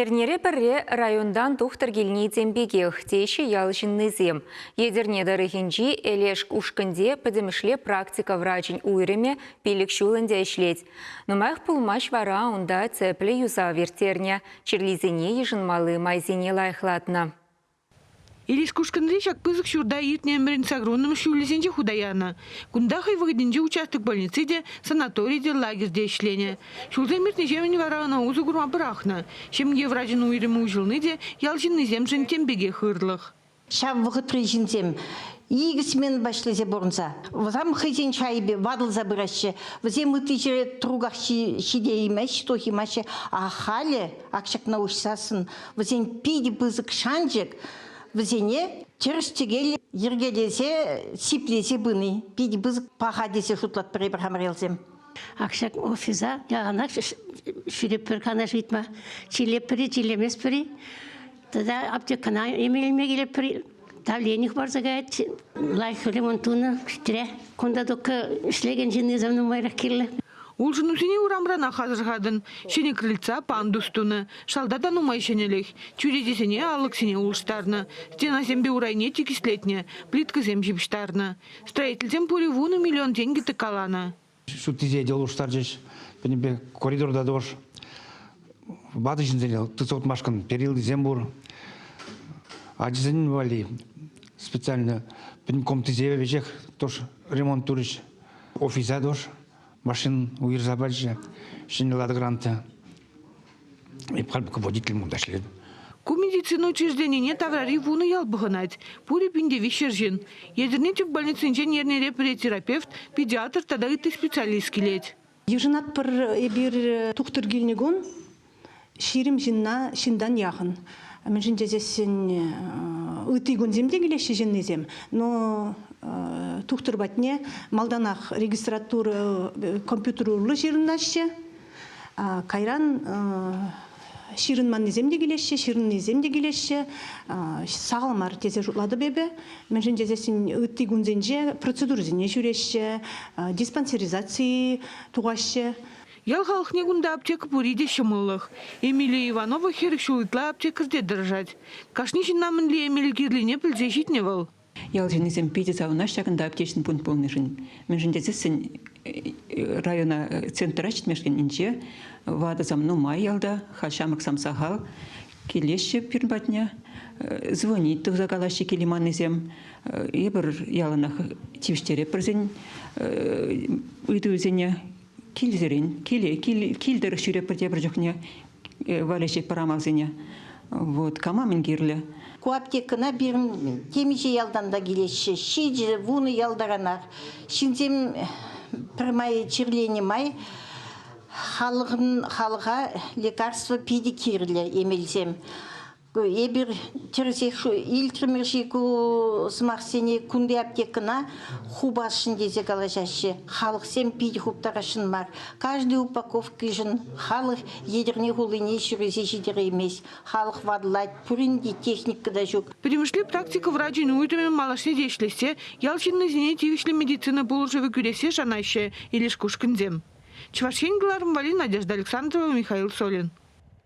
Эрнере пӗрре районтан тухтӑр килни тем пекех, теҫҫӗ ял ҫыннисем. Етӗрне тӑрӑхӗнчи Элешк ушкӑнте пӗтӗмӗшле практика врачӗн уйрӑмӗ пилӗк ҫул ӗнтӗ ӗҫлет. Нумаях пулмасть вара унта цеплӗ юсав ирттернӗ, чирлисене йышӑнмалли майсене лайӑхлатнӑ. Иришкушкӑнри ҫак пысӑк ҫурта иртнӗ ӗмӗрӗн саккунӑм ҫулӗсенче хута янӑ. Кунта хӑй вӑхӑтӗнче участок больници те, санатори те, лагерь те ӗҫленӗ. Ҫулсем иртнӗҫемӗн вара ӑна усӑ курма пӑрахнӑ. Ҫемье врачӗн уйрӑмӗ уҫӑлни те ял ҫыннисемшӗн тем пекех ырлӑх. Ҫав вӑхӑтри ҫынсем икӗ сменӑпа ӗҫлесе пурӑнса вӑтам хӑйсен шайӗпе ватӑлса пыраҫҫӗ. Вӗсем ытти ҫӗре труках ҫитеймеҫ, тухаймаҫҫӗ. Ахалӗ Ак ҫакна уҫсассӑн вӗсен питӗ пысӑк шанчӑк вӗсене тӗрӗс-тӗкел йӗркелесе, сиплесе пыни питӗ пысӑк паха тесе шутлатпӑр эпир хамӑрелсем. Ак ҫак офиса яланах ҫӳреппӗр канаш ыйтма. Чилеппӗр-и, чилеместпӗр-и? Тата аптекӑна име илме килеппӗр Давленев парса каять. Лайӑх ремонт тунӑ кӗтре. Кунта только ӗҫлекен ҫынни сав нумайрах кирлӗ. Улшӑнусене урамранах асӑрхатӑн. Ҫӗнӗ крыльца пандус тунӑ. Шалта та нумай ҫӗнӗлӗх. Чӳречесене алӑксене улӑштарнӑ. Стенасемпе урайне тикӗслетнӗ, плиткӑсем ҫыпӑҫтарнӑ. Строительсем пурӗ вунӑ миллион тенкӗ тӑккаланӑ. Ҫуттисене те улӑштарчӗҫ. Пӗтӗмпе коридорта тӑвӑш. Ватӑ ҫынсене тытса утмашкӑн перилисем пур. Ачасен валли специально пӗтӗм комнатисемпе веҫех тӑш ремонт турӗҫ. Офиса тӑш машина уйӑрса пачӗ. Ҫӗнӗ лада гранта. руководитель мунта ӗҫлет. Ку медицина учрежденине таврари вунӑ ял пӑхӑнать. Пурӗ пинте виҫшер ҫын. Етӗрне тӗп больницинчен эрнере пӗри терапевт, педиатр тата ытти специалист килет. Йышӑнатпӑр эпир тухтӑр килнӗ кун ҫирӗм ҫынна ҫынтан яхӑн. Мӗншӗн тесен ытти кунсем те килеҫҫӗ ҫыннисем, но тухтӑр патне малтанах регистратура компьютер урлӑ ҫырӑнаҫҫӗ, Кайран ҫырӑнманнисем те килеҫҫӗ, ҫырӑннисем те килеҫҫӗ. Сахал мар тесе шутлатӑп эпӗ. Мӗншӗн тесессӗн ытти кунсенче процедурӑсене ҫӳреҫҫӗ, диспансеризаци тухаҫҫӗ. Ял халӑхне кунта аптека пур-и те ҫӑмӑллӑх. Эмилия Иванова хӗр ҫул ытла аптекарьте тӑрӑшать. Кашни ҫынна мӗнле эмел кирлине пӗлсе ҫитнӗ вӑл. Ял ҫыннисем питӗ савӑнаҫ ҫакӑнта аптечный пункт пулнишӗн. Мӗншӗн тесессӗн э, района э, центра ҫитмешкенӗнче ватӑ сам нумай ялта, халь ҫамрӑк сам сахал, килеҫҫӗ пирӗн патне, э, звонить тухса калаҫҫӗ килиманнисем. Эпир яланах тивӗҫтерепӗрсен ыйтусене килсерен, киле, кил, килтӗрӗх ҫӳрепӗр тепӗр чухне, валеҫет пӑрамасене. Вот кама мӗн кирлӗ? Ку аптекӑна пирӗн темиҫе ялтан та килеҫҫӗ. Ҫичӗ, вунӑ ялтаранах. Ҫынсем пӗрмай чирленӗ май халӑхӑн халӑха лекарство питӗ кирлӗ эмелсем. Эпир илтрӗмӗр-ши ку сӑмахсене кунти аптекӑна хупасшӑн тесе калаҫаҫҫӗ. Халӑхсем питӗ хуптарасшӑн мар. Каждый упаковкишӗн халӑх Етӗрне хулине ҫӳресе ҫитереймест. Халӑх вадлать, пурин те техника та ҫук. Пӗтӗмӗшле практика врачӗн уйрӑмӗ малашне те ӗҫлессе, ял ҫыннисене тивӗҫлӗ медицина пулӑшӑвӗ кӳрессе шанаҫҫӗ Илеш Кушкинсем. Чӑваш Ен кӑларӑм валли Надежда Александрова, Михаил Солин.